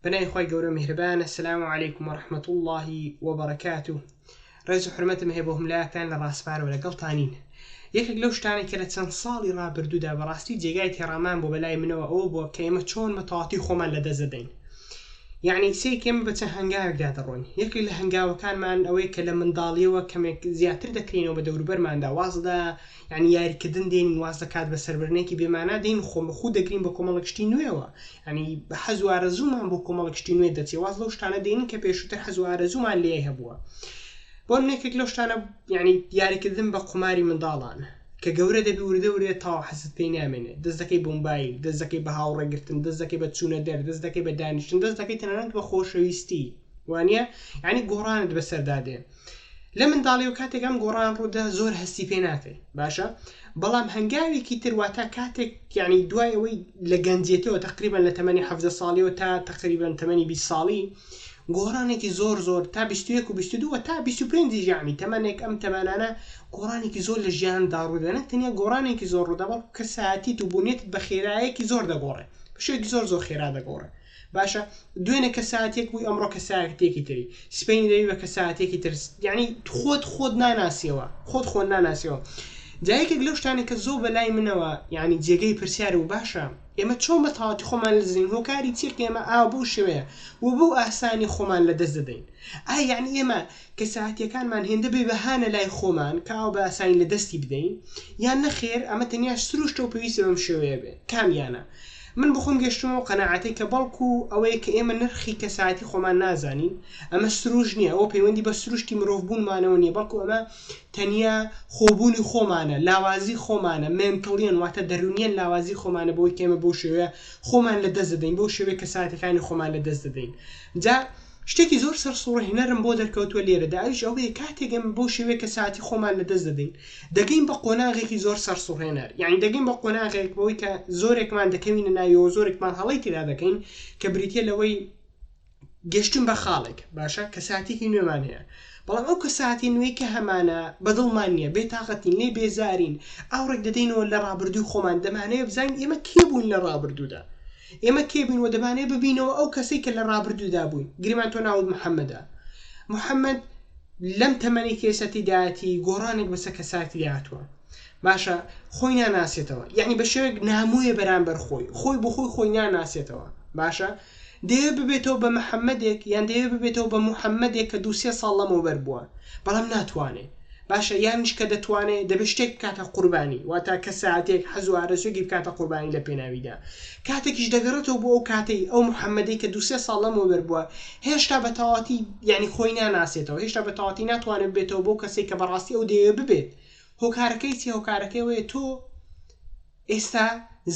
پەنای خۆی گەورە میهرەبانە سلام و علیکم و رحمەت اللهی وبرکات و ڕێز و حرمەتم هەیە بۆ هەملایەکتان لە ڕاستپارەوە لەگەڵتانین یەکێک لەو شتانە کە لە چەند ساڵی ڕابردوودا بەڕاستی جێگای تێڕامان بۆ بەلای منەوە ئەوە بووە کە ئێمە چۆن مەتەواتی خۆمان لە دەزەدەین یعنی سێک ئێمە بە چەند هەنگاوێکدا دەڕۆین یەکێک لە هەنگاوەکانمان ئەوەیە کە لە منداڵیەوە کەمێک زیاتر دەکرینەوە بە دەوروبەرماندا وازدا یانی یاریکردن دێنین واز لە کات بەسەربردنێکی بێمانا دێین و خۆمەخوو دەگرین بۆ کۆمەڵک شتی نوێوە ینی حەز و ئارەزوومان بۆ کۆمەڵک شتی نوێ دەچێ واز لەو شتانە دێنین کە پێشووتر حەز و ئارەزوومان لێ هەبووە بۆ منێکێک لەو شتانە ینی یاریکردن بە قوماری منداڵان کە گەورە دەبی وردە ورێ تاو حەزت پێی نامێنێ دەستەکەی بمبایل دەستەکەی بە هاوڕێگرتن دەستەکەی بە چوونە دەر دەستەکەی بە دانیشتن دەستەکەی تەنانەت بە خۆشەویستی وانە ینی گۆڕانت بەسەردادێ لە منداڵی و کاتێک ئەم گۆڕان ڕوودا زۆر هەستی پێ ناکەی باشە بەڵام هەنگاوێکی تر واتە کاتێک یعنی دوای ئەوەی لە گەنجێتەوە تقریبان لە تەمەنی ه ساڵیەوە تا تقریبان تەمەنی 20 ساڵی گۆڕانێکی زۆر زۆر تا 21 و 22 تا 25 ژانی تەمەنێک ئەم تەمانانە گۆڕانێکی زۆر لە ژیان داڕوودە نەک تەنیا گۆڕانێکی زۆر ڕوودەبڵ کەسایەتیت و بوونێت بە خێرایەکی زۆر دەگۆڕێ بەشێک زۆر زۆر خێرا دەگۆڕێ باشە دوێنێ کەساتێک بووی ئەمڕۆ کەساتێکی تری سپین دەوی بە کەساتێکی ترس یعنی خۆت خۆت ناناسیەوە خۆت خۆن ناناسیەوە جایەکێک لەو شتانی کە زۆ بەلای منەوە یعنی جێگەی پرسیار و باشە ئێمە چۆن بە تاواتی خۆمان لەزین هۆکاری چیەکە ئێمە ئا بەو شێوەیە و بەو ئاسانی خۆمان لە دەست دەدەین ئا یعنی ئێمە کەسایەتییەکانمان هێندە بێ بەهانە لای خۆمان کە ئاو بە ئاسانی لە دەستی بدەین یان نەخێر ئەمە تەنیا سروشتە و پێویستە بەم شێوەیە بێت کامیانە؟ من بۆ خۆم گەشتمەوە قەناعەتەی کە بەڵکو ئەوەیە کە ئێمە نرخی کەسایەتی خۆمان نازانین ئەمە سروشت نییە ئەوە پەیوەندی بە سروشتی مرۆڤ بوونمانەوە نییە بەڵکو ئەمە تەنیا خۆبوونی خۆمانە لاوازی خۆمانە مێنتڵیەن واتە دەرونیەن لاوازی خۆمانە بۆی کێمە بەو شێوەیە خۆمان لە دەست دەدەین بەو شێوەیە کەساتەکانی خۆمان لە دەست دەدەین جا شتێکی زۆر سەرسوڕهێنەرم بۆ دەرکەوتووە لێرەدا، ئەویش ئەوەیە کاتێک ئێمە بەو شێوەیە کە ساتی خۆمان لەدەست دەدەین، دەگەین بە قۆناغێکی زۆر سەرسوڕهێنەر، یانی دەگەین بە قۆناغێک بەوەی کە زۆرێکمان دەکەوینە ناویەوە، زۆرێکمان هەڵەی تێدا دەکەین کە بریتییە لەوەی گەشتن بە خاڵێک، باشە کە ساتێکی نوێمان هەیە، بەڵام ئەو کە ساتی نوێی کە هەمانە بەدڵمان نییە، بێتاقەتین، لێی بێزارین، ئاوڕێک دەدەینەوە لە ڕابردووی خۆمان، دەمانەوێت بزانین ئێمە کێ بووین لە ڕابردوودا، ئێمە کێ بین و دەمانەوێت ببینەوە ئەو کەسەی کە لە ڕابردوودا بووین، گریمان تۆ ناوت محەمەدە. محەمەد لەم تەمەنەی کە ئێستا تێیدایەتی گۆڕانێک بەسەر کەسایەتیدا هاتووە. باشە خۆی ناناسێتەوە، یانی بە شێوەیەک نامۆیە بەرامبەر خۆی، خۆی بۆ خۆی خۆی ناناسێتەوە، باشە؟ دەیەوێت ببێتەوە بە محەمەدێک یان دەیەوێت ببێتەوە بە محەمەدێک کە دوو سێ ساڵ لەمەوبەر بووە، بەڵام ناتوانێت. باشە یانیش کە دەتوانێ دەبێ شتێک بکاتە قوربانی واتا کەساتێک حەز و ئارەزوێکی بکاتە قوربانی لە پێناویدا کاتێکیش دەگەڕێتەوە بۆ ئەو کاتەی ئەو محەمەدەی کە دوو سێ ساڵ لەمەوە بەر بووە هێشتا بە تەواتی یعنی خۆی ناناسێتەوە هێشتا بە تەواتی ناتوانێت ببێتەوە بۆ کەسێک کە بەڕاستی ئەو دەیەوێ ببێت هۆکارەکەی چی هۆکارەکەی وەیە تۆ ئێستا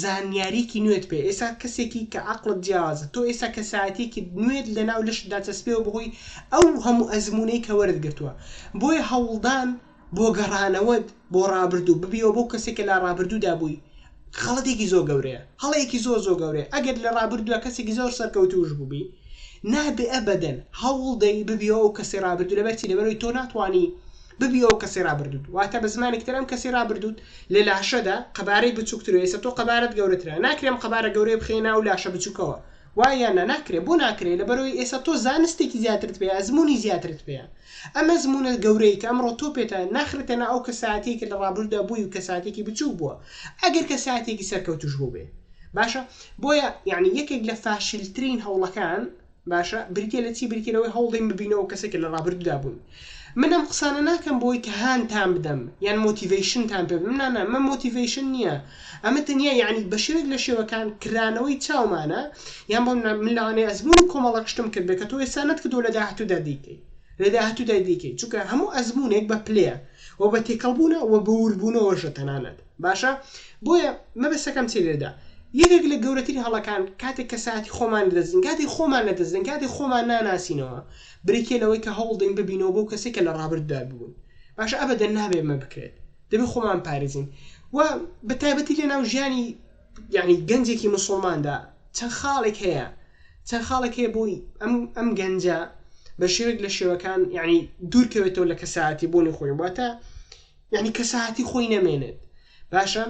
زانیاریەکی نوێت پێ ئێستا کەسێکی کە عەقڵت جیاوازە تۆ ئێستا کەسایەتیەکی نوێت لە ناو لەشت داچەسپێوە بەهۆی ئەو هەموو ئەزمونەی کە وەرت گرتووە بۆیە هەوڵدان بۆ گەڕانەوەت بۆ ڕابردوو ببیەوە بۆ کەسێک کە لە ڕابردوودا بووی خەڵەتێکی زۆر گەورەیە هەڵەیەکی زۆر زۆر گەورەیە ئەگەر لە ڕابردووە کەسێکی زۆر سەرکەوتوش بووبی نابێ ئەبدەن هەوڵدەی ببیەوە ئەو کەسی ڕابردوو لەبەرچی لەبەرەوەی تۆ ناتوانانی ببی ئەو کەسی ڕابردووت واتە بە زمانێکی تر ئەم کەسی ڕابردووت لە لاشەدا قەبارەی بچووکتر و ئێستا تۆ قەبارەت گەورەترە ناکرێ ئەم قەبارە گەورەیە بخەیە ناو لاشە بچووکەوە وایە یان نا ناکرێ بۆ ناکرێ لەبەرەوەی ئێستا تۆ زانستێکی زیاترت پێ ئەزموونی زیاترت پێیە ئەم ئەزموونە گەورەی کە ئەمڕۆ تۆ پێتە ناخرێتە نا ئەو کەساتیە کە لە ڕابردوودا بووی و کەساتێکی بچووک بووە ئەگەر کەساتێکی سەرکەوتوش بووبێ باشە بۆیە یعنی یەکێک لە فاشلترین هەوڵەکان باشە بریتیە لە چی بریتیە لەوەی هەوڵدەین ببینەوە کەسێک کە لە ڕابردوودا بوون من ئەم قسانە ناکەم بۆی کە هانتان بدەم یان مۆتیڤیشنتان پێ بم نانە مە مۆتیڤیشن نییە ئەمە تەنیا یعنی بە شێوێک لە شێوەکان کرانەوەی چاومانە یان بۆ من لەوانەیە ئەزمونی کۆمەڵەکشتم کرد بێ کە تۆ ئێستا نەت کردو لە داهاتوودا دیکەی لە داهاتوودا دیکەی چونکە هەموو ئەزمونێک بە پلەیە و بە تێکەڵبوونە و بە وربوونەوەشە تەنانەت باشە بۆیە مەبەستەکەم چی لێرەدا یەکێک لە گەورەترین هەڵەکان کاتێک کەسایەتی خۆمان لەدەستدەین کاتی خۆمان لەدەستدەین کاتی خۆمان ناناسینەوە بریتیە لەوەی کە هەوڵدەین ببینەوە بۆ کەسێک کە لە ڕابرددا بوون باشە ئەبەدەن نابێت مە بکرێت دەبێت خۆمان پارێزین و بە تایبەتی لە ناو ژیانی یعنی گەنجێکی مسلماندا چەند خاڵێک هەیە چەند خاڵێک هەیە بۆی ئەم ئەم گەنجە بە شێوێک لە شێوەکان یعنی دوورکەوێتەوە لە کەسایەتی بوونی خۆی واتە یەعنی کەسایەتی خۆی نەمێنێت باشە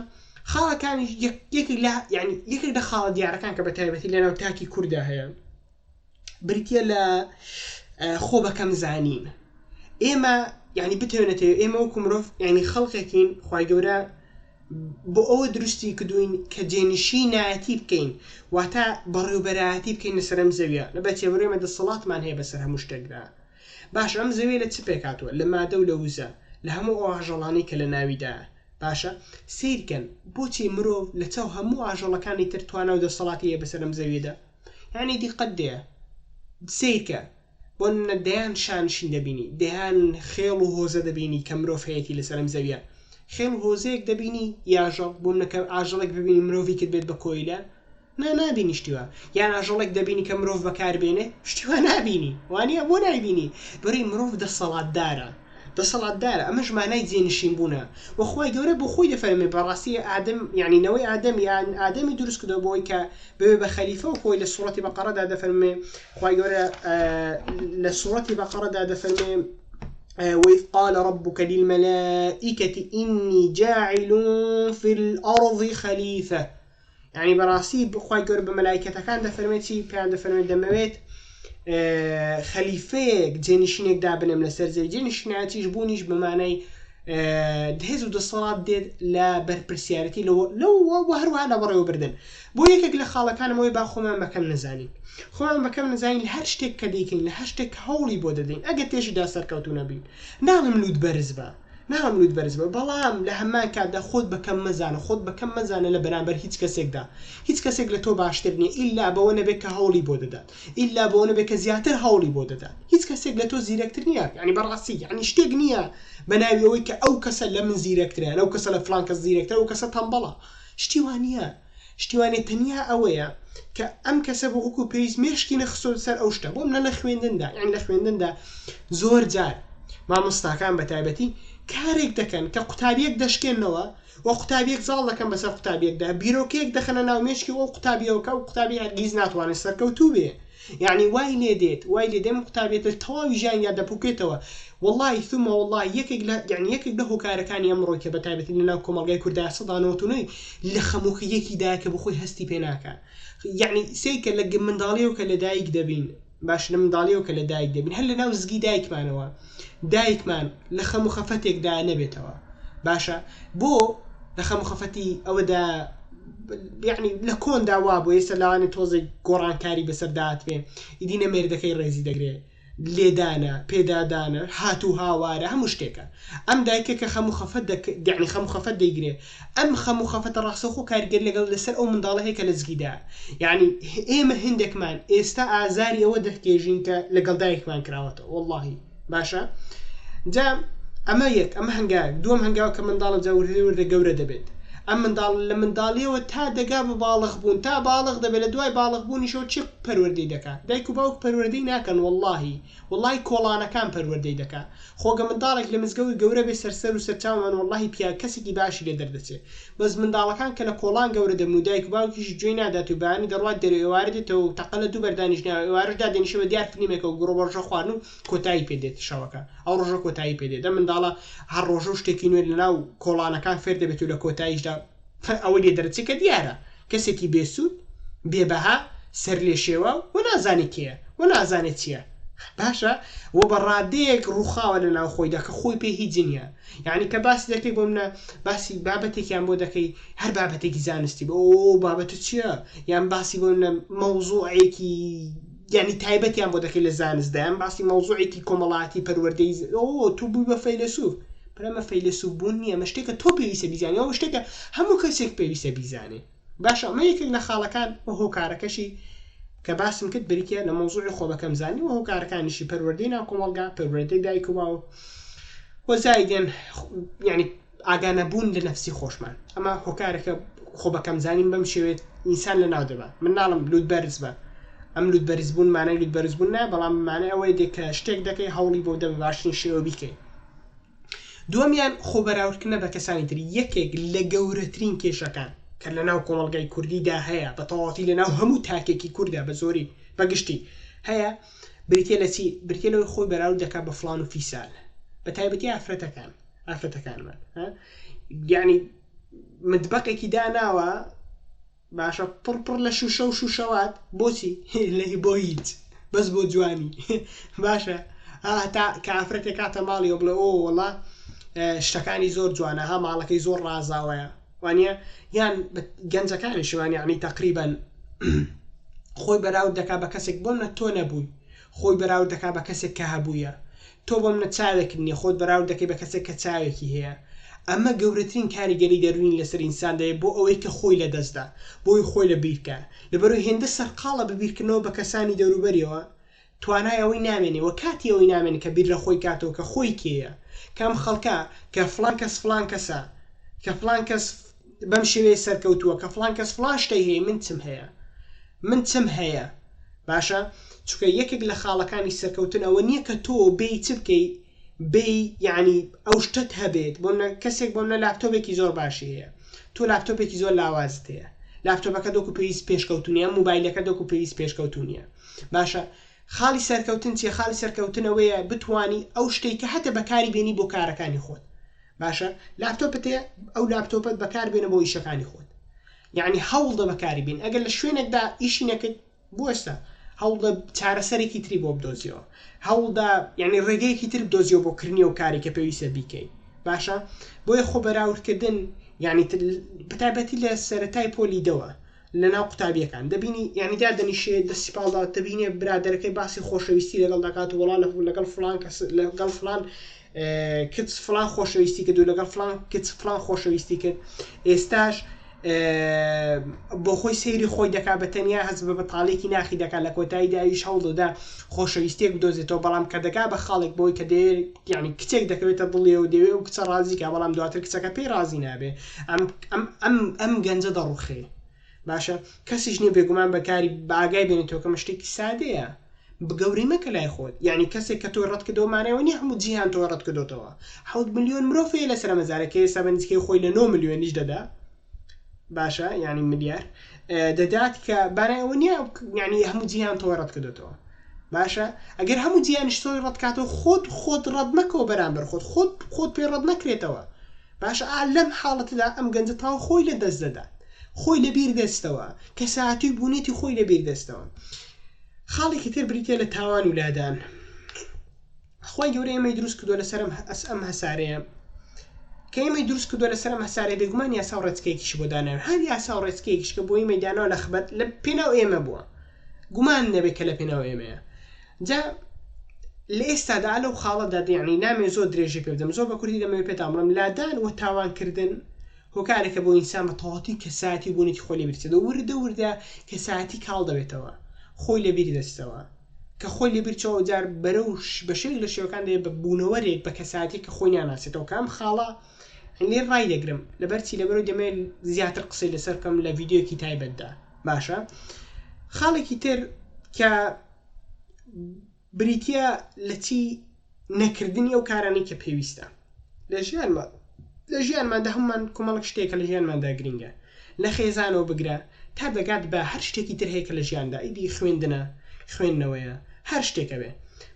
خاڵە کانیش یەکێک لە یعنی یەکێک لە خاڵە دیارەکان کە بە تایبەتی لەناو تاکی کووردا هەیە بریتە لە خۆ بەکەم زانین ئێمە یعنی بتێنێتێ ئێمە و کومرۆڤ یعنی خەڵکێکین خی گەورە بۆ ئەوە دروستی کردوین کە جێنشی نایەتی بکەین واتە بەڕێوبەرایەتی بکەین لەسەرم زەویە لە بەچێبرێمە دەسەڵاتمان هەیە بەسەر هەموو شتێکدا باشە ئەم زەویە لە چ پێکهاتووە؟ لە مادە و لە وزە، لە هەموو ئەو ئاژەڵانەی کە لە ناویدایە. باشە سەیرکەن بۆچی مرۆڤ لە چاو هەموو ئاژەڵەکانی تر توانا و دەسەڵاتی هەیە بەسەر ئەم زەویەدا؟ یانی دیقەت دەیە سەیرکە بۆ نمونە دەیان شانشین دەبینی، دەیان خێڵ و هۆزە دەبینی کە مرۆڤ هەیەتی لەسەر ئەم زەویە. خێڵ و هۆزەیەک دەبینی ی ئاژەڵ، بۆ نمونە کە ئاژەڵێک ببینی مرۆڤی کرد بێت بە کۆیلە، نا نابینی شتی وا یان ئاژەڵێک دەبینی کە مرۆڤ بەکار بێنێ شتی وا نابینی وانە بۆ نایبینی بەری مرۆڤ دەسەڵاتدارە دەسەڵاتدارە ئەمەش مانای جێ نشین بوونە وە خوای گەورە بۆ خۆی دەفەرمێ بەڕاستی ئادەم یانی نەوەی ئادەم یان ئادەمی دروست کردەوە بۆی کە ببێ بە خەلیفە و خۆی لە سوڕەتی بەقەڕەدا دەفەرمێ خوای گەورە لە سوڕەتی بەقەڕەدا دەفەرمێ وإذ قال ربك للملائكة إني جاعل في الأرض خليفة یانی بەڕاستی خوای گەورە بە مەلایکەتەکان دەفەرمێت چی پێیان دەفەرمێت دەمەوێت خەلیفەیەک جێنشینێک دابنم لەسەر زەوی جێنشینایەتیش بوونیش بەمانای دهێز و دەسەڵات دێت لە بەرپرسیارەتی لەوە هەروە لە بەڕێوەبردن بۆ یەکێک لە خاڵەکانمەوەی با خۆمان بەکەم نزانین خۆمان بەکەم نزانین لە هەر شتێک کە دەیکەین لە هەر شتێک هەوڵی بۆ دەدەین ئەگە تێشیدا سەرکەوتو نەبین ناڵم لووت بەرز بە ناڵێم لوت بەرز بە بەڵام لە هەمان کاتدا خۆت بە کەم مەزانە خۆت بە کەم مەزانە لە بەرامبەر هیچ کەسێکدا هیچ کەسێک لە تۆ باشتر نیە ئیلا بەوە نەبێت کە هەوڵی بۆ دەدات ئیلا بەوە نەبێت کە زیاتر هەوڵی بۆ دەدات هیچ کەسێک لە تۆ زیرەکتر نیە یانی بەڕاستی یانی شتێک نیە بە ناوی ئەوەی کە ئەو کەسە لە من زیرەکترە یان ئەو کەسە لە فڵان کەس زیرەکترە ئەو کەسە تەمبەڵە شتی وا نیە. شتی وانیە تەنیا ئەوەیە کە ئەم کەسە بۆ وەکو پێویست مێشکی نەخستۆتە سەر ئەو شتە بۆ منە لە خوێندندا یان لە خوێندندا زۆر جار مامۆستاکان بە تایبەتی کارێک دەکەن کە قوتابیەک دەشکێنەوە و قوتابیەک زاڵ دەکەن بەسەر قوتابیەکدا بیرۆکەیەک دەخەنە ناو مێشکی ئەو قوتابیەوە کە ئەو قوتابی هەرگیز ناتوانێت سەرکەوتوو بێ یەعنی وای لێ دێت وای لێ دێم ئەم قوتابیە تر تەواوی ژیانیا دەپوکێتەوە وەڵای ثم وەڵای یەکێک لە یەعنی یەکێک لە هۆکارەکانی ئەمڕۆی کە بەتایبەتی لەناو کۆمەڵگای کوردا سەدا نەوەت و نۆی لە خەمو خیەکی دایە کە بخۆی هەستی پێ ناکا یەعنی سەیر کە لە منداڵیەوە کە لەدایک دەبین باش لە منداڵیەوە کە لەدایک دەبین هەر لەناو زگی دایکمانەوە دایکمان لە خەم و خەفەتێکدا نەبێتەوە باشە بۆ لە خەم و خەفەتی ئەوەدا یعنی لە کۆندا وا بۆ ئێستا لاوانی تۆزێک گۆڕانکاری بەسەر داتێ ئیدی نە مێردەکەی ڕێزی دەگرێت لێدانە پێدادانە هاتوو هاوارە هەموو شتێکە ئەم دایکە کە خەم و خەفەت دەک دەعنی خەم خەفەت دەیگرێ ئەم خەم و خەفەتە ڕاستەوخۆ کاریگەری لەگەڵ لەسەر ئەو منداڵە هەیە کە لەجگیدایە. یەعنی ئێمە هندێکمان ئێستا ئازاری ئەوە دەکێژین کە لەگەڵ دایکمان کراوەتەوە وەڵاهی. باشە جا ئەمە یەک ئەمە هەنگاوێک دووەم هەنگاوە کە منداڵە جا وردە وردە گەورە دەبێت. ئەم منداڵ لە منداڵیەوە تا دەگا بە باڵغ بوون تا باڵغ دەبێت لە دوای باڵغ بوونیشەوە چی پەروەردەی دەکات دایک و باوک پەروەردەی ناکەن وەڵاهی وەڵی کۆڵانەکان پەروەردەی دەکات خۆگە منداڵێک لە مزگەوت گەورە بێ سەر سەرو سەرچاومان وەڵاهی پیاە کەسێکی باشی لێ دەردەچێ بەس منداڵەکان کە لە کۆڵان گەورە دەبن و دایک و باوکیشی گوێی نادات و بەیانی دەڕوات دەرێ و ئێوارە دێتەوە و تەقە لە دوو بەر دانیشناوە ئێوارەش دادێنیشە بە دیار فلیمێکەوە گوڕ و بەڕژە خواردن و کۆتایی پێ دێت شەوەکە ئەو ڕۆژە کۆتایی پێ دێت ئەم منداڵە هەر ڕۆژە و شتێکی نوێ لە ناو کۆڵانەکان فێر دەبێت و لە کۆتاییشدا کە ئەوەی لێ دەرەچێ کە دیارە کەسێکی بێ سوود، بێ بەها، سەرلێشێواو و نازانێ کێیە و نازانێ چییە باشە و بە ڕادەیەک ڕووخاوە لە ناو خۆیدا کە خۆی پێ هیچ نییە. یانی کە باسی دەکەی بۆ منە باسی بابەتێکیان بۆ دەکەی هەر بابەتێکی زانستی بۆ ئەو بابەتە چییە یان باسی بۆ منە مەوزوعێکی یانی تایبەتیان بۆ دەکەی لە زانست دایان باسی مەوزوعێکی کۆمەڵاتی پەروەردەی ئەو تۆ بووی بە فەیلەسوف برامە فەیلەسوف بوون نییە مە شتێکە تۆ پێویستە بیزانانی ئەو شتێکە هەموو کەسێک پێویستە بیزانێ باشە ئەمە یەکێک لە خاڵەکان و هۆکارەکەشی کە باسم کرد بریتە لە مەوزوعی خۆبەکەم زانی و هۆکارەکانیشی پەروەردەی ناو کۆمەڵگا پەروەردەی دایک و باوە وەزایدێن یعنی ئاگانەبوون لە نەفسی خۆشمان ئەمە هۆکارەکە خۆ بەکەم زانین بەم شێوێت ئینسان لە ناو دەبە من ناڵم لووت بەرز بە ئەم لووت بەرزبوون مانای لووت بەرزبوون نایە بەڵام مانە ئەوەی دێک کە شتێک دەکەی هەوڵی بۆ دەبە باشترین شێوە بیکەیت دومیان خۆ بەراوردکردە بە کەسانی تری یەکێک لە گەورەترین کێشەکان کە لە ناو کۆمەلگای کوردیدا هەیە بە تەواتی لە ناو هەموو تاکێکی کووردا بە زۆری بەگشتی هەیە بریتیە لە چی؟ بریتیە لەوەی خۆی بەراورد دەکات بە فلان و فیسال بە تایبەتی ئافرەتەکان ئافرەتەکانمان یعنی متبقێکی داناوە باشە پڕپڕ لە شوشە و شوشەوات بۆچی لەهی بۆ هیچ بەس بۆ جوانی باشە هەتا کافرەتێک کاتە ماڵی ئۆ بڵێ ئۆ وڵا شتەکانی زۆر جوانە ها ماڵەکەی زۆر ڕازاوەیە وانیە یان گەنجەکانیشی وانە یانی تەقریبەن خۆی بەراورد دەکا بە کەسێک بۆم نە تۆ نەبووی خۆی بەراورد دەکا بە کەسێک کە هەبووە تۆ بۆم نە چاوێکت نیە خۆت بەراورد دەکەی بە کەسێک کە چاوێکی هەیە ئەمە گەورەترین کاریگەری دەروین لەسەر ئینسان دەیە بۆ ئەوەی کە خۆی لە دەستدا بۆی خۆی لە بیرکە لەبەرو هێندە سەرقاڵە بە بیرکردنەوە بە کەسانی دەوروبەریەوە توانای ئەوەی نامێنێ و کاتی ئەوەی نامێنێ کە بیر لە خۆی کاتەوە کە خۆی کێیە؟ کە ئەم خەڵکە کە فڵان کەس فڵان کەسە، کە فڵان کەس بەم شێوەیە سەرکەوتووە، کە فڵان کەس فڵان شتەی هەیە، من چم هەیە؟ من چم هەیە؟ باشە چونکە یەکێک لە خاڵەکانی سەرکەوتن ئەوە نییە کە تۆ بێی چ بکەی؟ بێی یەعنی ئەو شتەت هەبێت، بۆ منە کەسێک بۆ منە لاپتۆپێکی زۆر باشی هەیە، تۆ لاپتۆپێکی زۆر لاوازت هەیە، لاپتۆپەکەت وەکو پێویست پێشکەوتوو نییە، ئەم موبایلەکەت وەکو پێویست پێشکەوتوو نییە. باشە خاڵی سەرکەوتن چیە خاڵی سەرکەوتن ئەوەیە بتانی ئەو شتێک کە هەتە بەکاری بێنی بۆ کارەکانی خۆت باشە لاپتۆپت ئەو لاپتۆپەت بەکار بێنە بۆ ئیشەکانی خۆت یعنی هەوڵدە بەکاری بین ئەگەر لە شوێنێکدا ئیشی نەکرد بوەستە هەوڵدە چارەسەرێکی تری بۆ بدۆزیەوە هەوڵدا یعنی ڕێگەیەکی تر بدۆزیەوە بۆ کردنی و کاری کە پێویستە بیکەیت باشە بۆیە خۆ بەراوردکردن یعنی بەتابەتی لە سەتای پۆلی دەوە لەناو قوتابیەکان دەبینی یانی دادەنیشێ دەستی پاڵ داوە دەبینێ برادەرەکەی باسی خۆشەویستی لەگەڵ دەکات وەڵا لەگەڵ فلان کەس لەگەڵ فلان کچ فلان خۆشەویستی کرد و لەگەڵ فلان کچ فلان خۆشەویستی کرد ئێستاش بۆ خۆی سەیری خۆی دەکا بە تەنیا هەز بە بەتاڵێکی ناخی دەکات لە کۆتایی داویش هەوڵ دەدا خۆشەویستێک بدۆزێتەوە بەڵام کە دەکا بە خاڵێک بۆی کە دەیە یعنی کچێک دەکەوێتە دڵێ و دەوێ و کچە ڕازیکە بەڵام دواتر کچەکە پێی ڕازی نابێ ئەم ئەم ئەم ئەم گەنجە دەڕوخێ باشە کەسیش نیە بێگومان بەکاری باگای بێنێتەوەکەمە شتێکی سادەیە بگەوری مەکە لای خۆت یعنی کەسێک کە تۆی ڕەت کردەوە مانەوە نیە هەموو جیهان تۆ ڕەت کردوتەوە حوت ملیۆن مرۆڤەیە لە سەر مەزارەکەی سا بە نزیکەی خۆی لە 9 ملیۆنیش دەدا باشە ینی ملیار دەدات کە بارای ئەوە نیە ینی هەموو جیهان تۆ ڕەت کردوتەوە باشە ئەگەر هەموو جیانیشتۆی ڕەتکاتەوە خۆت خۆت ڕەت مەکەوە بەرامبەر خۆت خۆت خۆت پێ ڕەت نەکرێتەوە باشە ئا لەم حاڵەتەدا ئەم گەنجە تاو خۆی لە دەست دەدات خۆی لە بیر دەستەوە کەساتی و بونیەتی خۆی لە بیر دەستەوە خاڵێکی تر بریتە لە تاوان و لادان خۆی گەورە ئێمەی دروست کردو لەسرم ئەس ئەم هەسارەیە کە ئێمەی دروست کردو لەسرم هەسارە بێگومان یاسا و ڕێچکەیەکیش بۆ دانان هەر یاسا و ڕێچکەیەکیشکە بۆی مەدانەوە لە خبەت لە پێناو ئێمە بووە گومان نەبێت کە لە پێناو ئێمەیە جا لە ئێستادا لەو خاڵەدا یعنی نامێ زۆر درێژی پێ بدەم زۆر بە کوردی دەمەوێت پێتان بڵێم لادان و تاوانکردن هۆکارێکە بۆ ئینسان بە تەواتی کەسایەتی بوونێتی خۆ لێ بیرچێت و وردە وردە کەسایەتی کاڵ دەبێتەوە خۆی لە بیری دەچتەوە کە خۆی لە بیرچەوە جار بەرە و بەشێک لە شێوەکان دێ بە بوونەوەرێک بە کەساتی کە خۆی ناناسێتەوە کام خاڵە لێ ڕای دەگرم لەبەرچی لەبەرو دەمێ زیاتر قسەی لەسەر بکەم لە ڤیددیوکی تایبەتدا باشە خاڵێکی تر کە بریتیە لە چی نەکردنی ئەو کارانەی کە پێویستە لە ژیانمە لە ژیانماندا هەمومان کومەڵک شتێکە لە ژیانماندا گرنگە لە خێزانەوە بگرە تا دەگات بە هەر شتێکی تر هەیە کە لە ژیاندا ئیدی خوێندنە خوێندنەوەیە هەر شتێکە بێ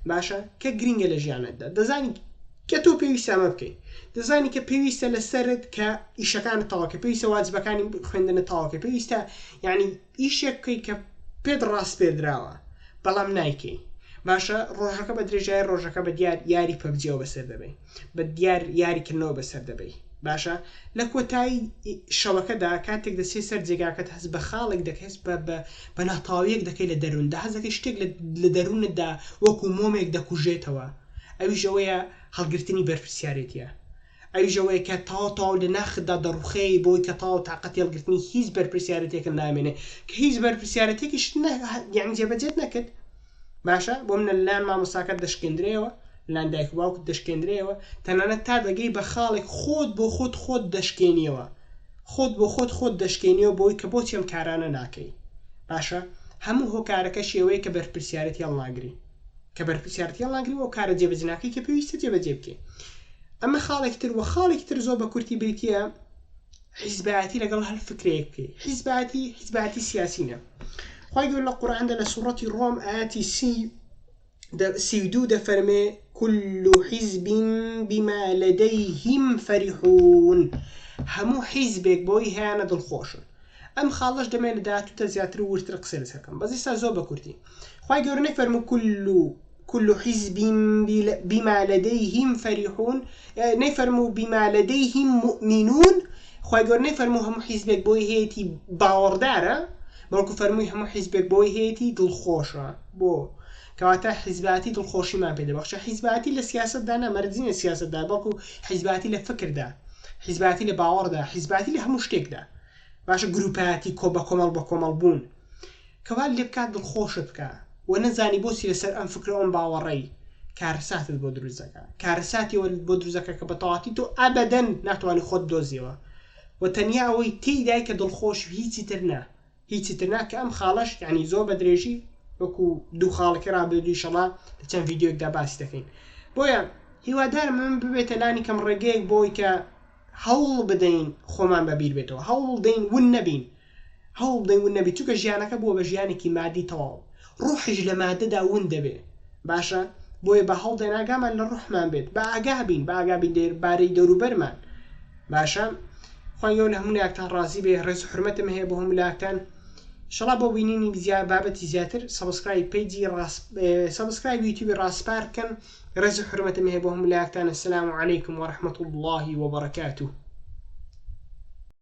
باشە کە گرنگە لە ژیانەتدا دەزانی کە تۆ پێویستامە بکەیت دەزانی کە پێویستە لەسرت کە ئیشەکان تاواکە پێویستە واجبەکانی خوێندنە تاواکە پێویستە یعنی ئیشێک بکەی کە پێت ڕاسپێردراوە بەڵام نایکەی باشە ڕۆژەکە بە درێژای ڕۆژەکە بە دیار یاری پەبجیەوە بەسەر دەبەی بە دیار یاری کردنەوە بەسەر دەبەی باشە لە کۆتایی شەوەکەدا کاتێک دەچێت سەر جێگاکەت هەست بە خاڵێک دەکەس بە بە بە ناتاویەک دەکەی لە دەرووندا هەزەکەی شتێک لە دەروونتدا وەکو مۆمێک دەکوژێتەوە ئەویش ئەوەیە هەڵگرتنی بەرپرسیارێتە ئەوی ژەوەیە کە تاو تاو لە ناختدا دەڕوخێ بەوەی کە تاو تاقەتی هەڵگرتنی هیچ بەرپرسیارەتێکت نامێنێ کە هیچ بەرپرسیارەتێکیشت نە یانی جێبەجێت نەکرد باشە بۆ منە لەلایەن مامۆستاکەت دەشکێندرێەوە لەلایەن دایک و باوکت دەشکێندرێەوە تەنانەت تا دەگەی بە خاڵێک خۆت بۆ خۆت خۆت دەشکێنیەوە خۆت بۆ خۆت خۆت دەشکێنیەوە بۆی کە بۆچی ئەم کارانە ناکەی باشە هەموو هۆکارەکە شێوەیە کە بەرپرسیارەتی هەڵناگری کە بەرپرسیارەتی هەڵناگری و کارە جێبەجناکەی کە پێویستە جێبەجێ بکەی ئەمە خاڵێکی تر وە خاڵێکی تر زۆر بە کورتی بریتە حیزبایەتی لەگەڵ هەر فکرەیەک بکەی حیزباتی حیزباتی سیاسینە خی گەور لە قورآاندا لە سوڕەتی ڕۆم ئاتی سی سی دو دەفەرمێ كل حزب بما لديهم فرحون هەموو حیزبێک بۆی هیانە دڵخۆشن ئەم خاڵەش دەمێ لە داهاتوو تە زیاتر و وردتر قسەی لەسەر بکەم بەس ئیستا زۆر بە کورتی خوای گەورە نەیفەرموو کل و کل و حیزب بما لدیهم فریحون نەیفەرموو بما لدیهم مؤمنون خوای گەورە نەیفەرموو هەموو حیزبێک بۆی هەیەتی باوەڕدارە بەڵکو فەرمووی هەموو حیزبێک بۆی هەیەتی دڵخۆشە بۆ کەواتە حیزبایەتی دڵخۆشیمان پێ دەبەخشێ. حیزبایەتی لە سیاسەتدا نا، مەرج نییە سیاسەتدا، بەڵکو حیزبایەتی لە فکردا، حیزبایەتی لە باوەڕدا، حیزبایەتی لە هەموو شتێکدا. باشە گرووپایەتی کۆ بە کۆمەڵ بە کۆمەڵ بوون کە وات لێ بکات دڵخۆشت بکا و نەزانی بۆچی لەسەر ئەم فکر و ئەم باوەڕەی کارەساتت بۆ دروست دەکا. کارەساتی ئەوە بۆ دروست دەکا کە بە تەواوەتی تۆ ئەبەدەن ناتوانی خۆت بدۆزیەوە و تەنیا ئەوەی تێیدای کە دڵخۆشی و هیچی تر نا. هیچی تر نا کە ئەم خاڵەش یانی زۆر بە درێژی وەکو دوو خاڵەکەی ڕابردوو ئیشەڵا لە چەند ڤیدیۆیەکدا باسی دەکەین بۆیە هیوادارم ئەم ببێتە لانی کەم ڕێگەیەک بۆی کە هەوڵ بدەین خۆمان بەبیر بێتەوە هەوڵ دەین ون نەبین هەوڵ بدەین ون نەبی چونکە ژیانەکە بووە بە ژیانێکی مادی تەواو ڕۆحیش لە ماددەدا ون دەبێ. باشە بۆیە با هەوڵدەین ئاگامان لە ڕۆحمان بێت، با ئاگا بین، با ئاگا بین لە بارەی دەوروبەرمان. باشە خوای گەورە لە هەموو لایەکتان ڕازی بێ، ڕێز و حورمەتم هەیە بۆ هەموو لایەکتان. ئیشەڵا بۆ بینینی بزیا بابەتی زیاتر سەبسکرایب پەیجی ڕاس سەبسکرایب یوتیوبی ڕاسپار بکەن ڕێز و حورمەتم هەیە بۆ هەموو لایەکتان السلام علیکم ورحمة الله وبرکاته